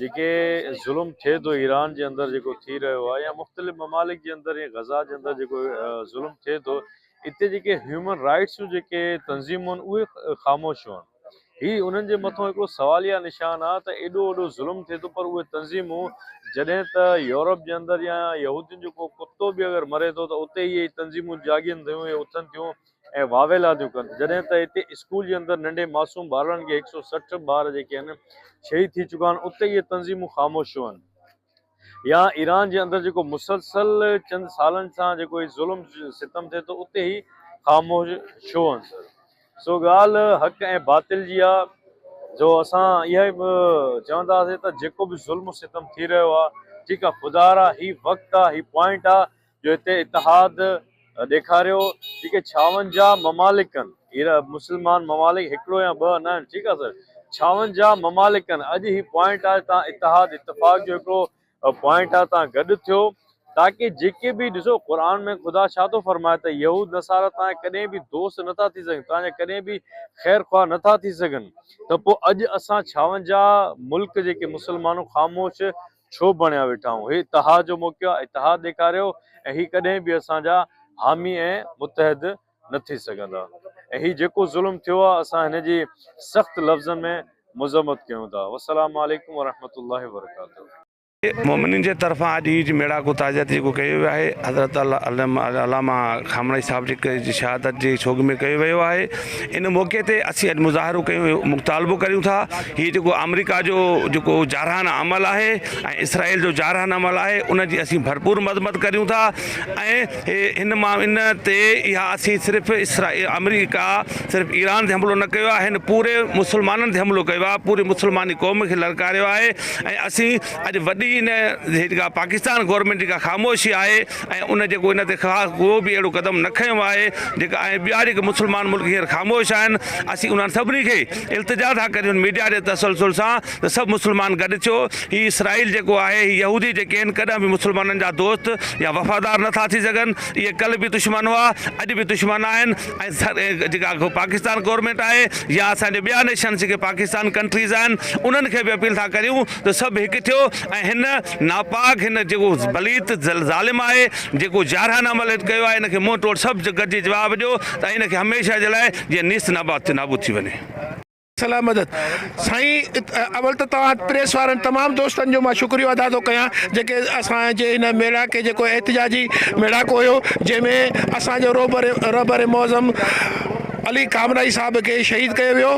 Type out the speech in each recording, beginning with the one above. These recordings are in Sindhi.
جيڪي ظلم ٿئي ٿو ايران جي اندر جيڪو ٿي رهيو آهي يا مختلف ممالڪ جي اندر يا غزا جي اندر جيڪو ظلم ٿئي ٿو اتي جيڪي هيومن رائٽس جون جيڪي تنظيمون اهي خاموش هئن هي انهن جي مٿو هڪڙو سواليا نشان آهي ته ايڏو وڏو ظلم ٿئي ٿو پر اهي تنظيمون جڏهن ته يورپ جي اندر يا يهودين جو ڪو ڪتو به اگر مري ٿو ته اتي هي تنظيمون جاڳين ٿيون يا اٿن ٿيون ۽ واويل رانديون ڪن جڏهن ته هتي اسڪول جي اندر ننڍي معصوم ٻارڙن کي هڪ سؤ سٺ ٻار جيڪي آهن شهيد ٿي چڪا آهن اتي اهي تنظيمون خاموش ڇو آهن يا ايران جي اندر جيڪو مسلسل چند سالن سان جيڪو هي ظلم ستم ٿئي ٿو اتي هي خاموش ڇو آهن سر سو ڳالهه حق ۽ باطل جي آهي جو اسان اها ئي چونداسين ته جيڪو به ظلم ستم ٿي رهيو آهي ٺيڪ آهي خدارا هي وقت آهي هي پوائنٽ آهي جو هتي اتحاد ڏيکاريو جيڪي ڇاونجاهه ممالڪن مسلمان ممالڪ هڪڙو يا ٻه نه آهن ٺيڪ آهي سر ڇاونجاهه ممالڪن اڄ هي پوائنٽ آهي تان اتحاد اتفاق جو هڪڙو پوائنٽ آهي تان گڏ ٿيو تاڪي جيڪي به ڏسو قرآن ۾ خدا ڇا ٿو فرمائي ته يهود نصارا تان ڪڏهن به دوست نٿا ٿي سگهن تان جا ڪڏهن به خير خواهه نٿا ٿي سگهن ته پوء اڄ اسان ڇاونجاهه ملڪ جيڪي مسلمانو خاموش ڇو بڻيا ويٺا آهون؟ هي تهه جو موقعو آهي تهه ڏيکاريو ۽ هي ڪڏهن به اسان جا حامي ۽ متحد نه ٿي سگهندا ۽ هي جيڪو ظلم ٿيو آهي اسان هن جي سخت لفظن ۾ مذمت ڪيون ٿا والسلام عليڪم ورحمة الله وبرڪاته. مومنين جي طرفان اڄ هي ميڙاڪو تعزيت جيڪو ڪيو ويو آهي حضرت علامه خامنه صاحب جي شهادت جي سوڳ ۾ ڪيو ويو آهي. ان موقعي تي اسين اڄ مظاهرو ڪيون ۽ مطالبو ڪريون ٿا هي جيڪو آمريڪا جو جيڪو جارحانه عمل آهي ۽ اسرائيل جو جارحانه عمل آهي ان جي اسين ڀرپور مذمت ڪريون ٿا ۽ ان ان تي اها اسين صرف اسرائيل آمريڪا صرف ايران تي حملو نه ڪيو آهي هن پوري مسلمانن تي حملو ڪيو آهي پوري مسلماني قوم کي للڪاريو آهي ۽ اسين اڄ وڏي ان جيڪا پاڪستان گورنمنٽ جيڪا خاموشي آهي ۽ ان جيڪو ان تي خاص ڪو به اهڙو قدم نه کنيو آهي جيڪا ۽ ٻيا جيڪي مسلمان ملڪ هينئر خاموش آهن اسين انهن سڀني کي التجا ٿا ڪريون ميڊيا جي تسلسل سان ته سڀ مسلمان گڏ ٿيو هي اسرائيل جيڪو آهي هي يهودي جيڪي آهن ڪڏهن به مسلمانن جا دوست يا وفادار نه ٿا ٿي سگهن اهي ڪل به دشمن هئا اڄ به دشمن آهن ۽ جيڪا پاڪستان گورنمينٽ آهي يا اسان جي ٻيا نيشنس جيڪي پاڪستان ڪنٽريز آهن انهن کي به اپيل ٿا ڪريون ته سڀ هڪ ٿيو ۽ هن ناپاڪ هن جيڪو بليت ظالم آهي جيڪو جارحانه عمل هت ڪيو آهي ان کي منهن ٽوڙ سڀ گڏجي جواب ڏيو ته ان کي هميشه جي لاء جيئن نيست ناباد ٿي نابود ٿي وڃي. صلاح مدد سائين اول ته توهان پريس وارن تمام دوستن جو مان شڪريو ادا ٿو ڪيان جيڪي اسان جي هن ميڙاڪي جيڪو احتجاجي ميڙاڪو هيو جنهن ۾ اسان جو رهبر رهبر معظم علي خامنائي صاحب کي شهيد ڪيو ويو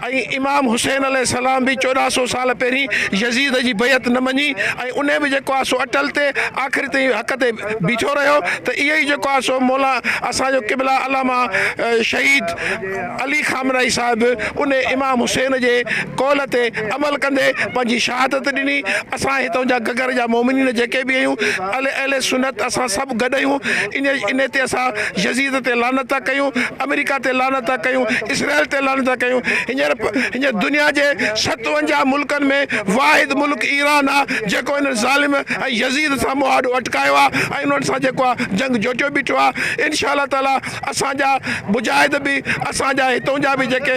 ۽ امام حسين عليه السلام به چوڏهن سؤ سال پهرين يزيد جي بيعت نه مڃي ۽ انهي به جيڪو آهي سو اٽل تي آخر تائين حق تي بيٺو رهيو ته اهي ئي جيڪو آهي سو مولا اسان جو قبله علامه شهيد علي خامنائي صاحب انهي امام حسين جي قول تي عمل ڪندي پنهنجي شهادت ڏني اسان هتان جا گگر جا مومنين جيڪي به آهيون اهل سنت اسان سڀ گڏ آهيون انهي تي اسان يزيد تي لعنت ٿا ڪيون، آمريڪا تي لعنت ٿا ڪيون، اسرائيل تي لعنت ٿا ڪيون، هينئر هينئر دنيا جي ستونجاهه ملڪن ۾ واحد ملڪ ايران آ جيڪو انهن ظالم ۽ يزيد سان مون آڏو اٽڪايو آ ۽ انهن سان جيڪو آ جنگ جوٽيو بيٺو آ انشاء الله تعاليٰ اسان جا مجاهد به اسان جا هتون جا به جيڪي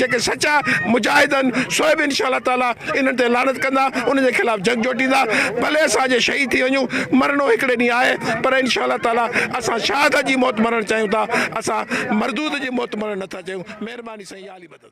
جيڪي سچا مجاهد آهن سو به انشاء الله تعاليٰ انهن تي لعنت ڪندا انهن جي خلاف جنگ جوٽيندا ڀلي اسان جي شهيد ٿي وڃون مرڻو هڪڙي ڏينهن آهي پر انشاء الله تعاليٰ اسان شاهد جي موت مرڻ چاهيون ٿا اسان مردود جي موت مرڻ نٿا چاهيون مهرباني سائين يا علي مدد.